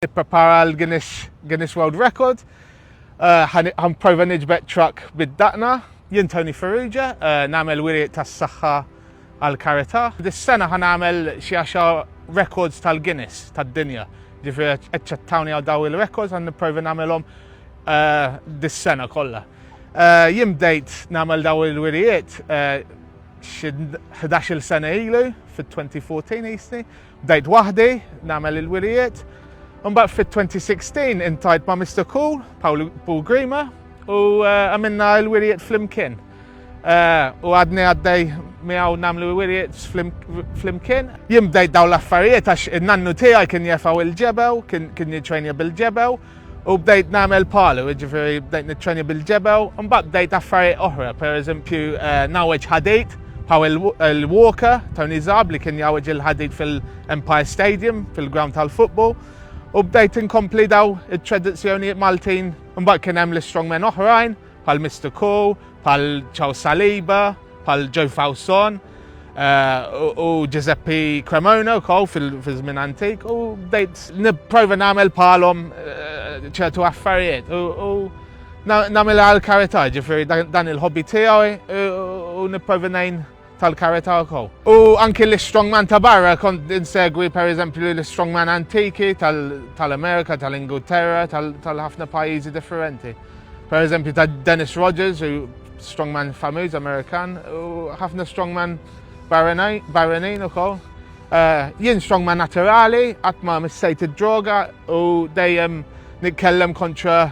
Nipprepara għal Guinness, Guinness World Record. Għan prova nġbet truck bid-daqna. Jien Tony Ferrugia, eh, namel wiri tas saħħa għal karita. Dis-sena għan għamel xiexa records tal-Guinness tad-dinja. Ġifiri, eċċettawni għal daw il-records għan nipprova namelom eh, dis-sena kollha. Eh, jien bdejt namel daw il-wirijiet xi 11 sena ilu fit-2014 jisni. Bdejt waħdi nagħmel il-wirijiet, imbagħad fit-2016 intajt ma' Mr. Cool, Paul Paul Grima, u eh, għamilna l-wirijiet flimkien. Eh, u għadni għaddej miegħu nagħmlu wirijiet flimkien. Jien bdejt dawn l-affarijiet għax in-nannu tiegħi kien jefgħu il-ġebew, kien jiġrejni bil-ġebew, U bdejt nagħmel palu, jiġifieri bdejt niċċenja bil-ġebel, imbagħad bdejt affarijiet oħra, pereżempju eh, nawweġ ħadejt bħal il-Walker Tony Zab li kien jawweġ il-ħadid fil-Empire Stadium fil-ground tal-futbol u bdejt inkompli daw it-tradizzjonijiet Maltin imbagħad kien hemm l-strongmen oħrajn bħal Mister Coe, bħal Charles Saliba, bħal Joe Fawson eh, u Giuseppe Cremona wkoll fil-żmien antik u bdejt nipprova nagħmel bħalhom eh, ċertu affarijiet u nagħmel għal karità ġifieri dan il-hobby tiegħi u nipprova ngħin tal-karità wkoll. U anki l-strongman ta' barra kont insegwi pereżempju l-strongman antiki tal-Amerika, tal-Ingilterra, tal-ħafna pajjiżi differenti. Pereżempju ta' Dennis Rogers, strongman famiż Amerikan, u ħafna strongman barranin ukoll. Eh, jien strongman naturali, qatt ma missejt id-droga u dejjem nitkellem kontra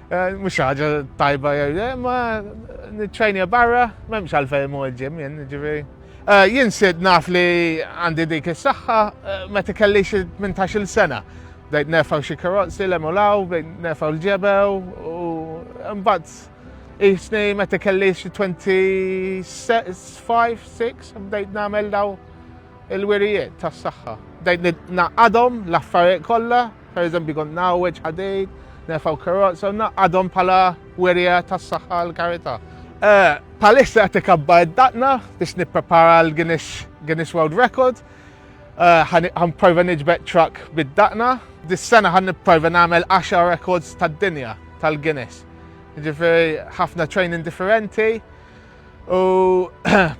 Eh, mhux ħaġa tajba jew le, ma niċċajnija barra, m'hemmx għalfejn mu l-ġim jien, ġifieri. Eh, jien sid naf li għandi dik is-saħħa eh, meta kelli xi 18-il sena. Bdejt nefgħu xi karozzi l emulaw, bdejt nefgħu l-ġebew u mbagħad isni meta kelli xi 25, 6 bdejt nagħmel daw il-wirijiet tas-saħħa. Bdejt naqadhom l-affarijiet kollha Per eżempju kont ngħawweġ ħadejt, nerfgħu karozza u naqgħadhom bħala werja tas-saħħa għal karità. Eh, palissa qed ikabba id-daqna biex nipprepara l-Guinness World Record. Għan eh, prova niġbed truck bid-daqna. Dis-sena għan nipprova nagħmel 10 records tad-dinja tal-Guinness. Ġifieri ħafna training differenti. U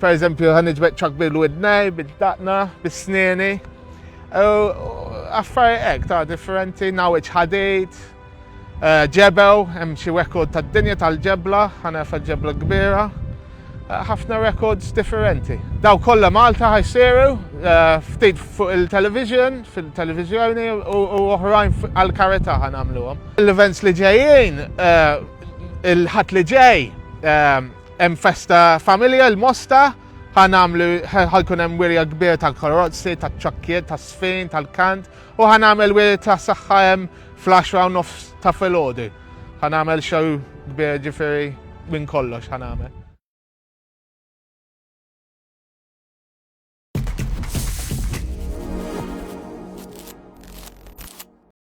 per eżempju ħan iġbed ċak bil-widnej, bil-daqna, bil-sneni. U affari ek ta' differenti, nawiċ ħadejt, eh, ġebew, hemm xi rekord tad-dinja tal-ġebla, ħanerfa ġebla kbira. Eh, ħafna rekords differenti. Daw kollha Malta ħajsiru, eh, ftit fuq il-television, fil-televizjoni u oħrajn għal-karita ħanamluhom. L-events li ġejjin Il-ħadd li ġej ehm, hemm festa familja l-Mosta ħanamlu ħalkun hemm wirja kbir tal-korozzi, tal-ċokkiet, tas-sfin, tal-kant u ħanamel wirja ta' saħħa hemm flash round of ta' filgħodu. Ħanamel xew kbir ġifieri minn kollox ħanamel.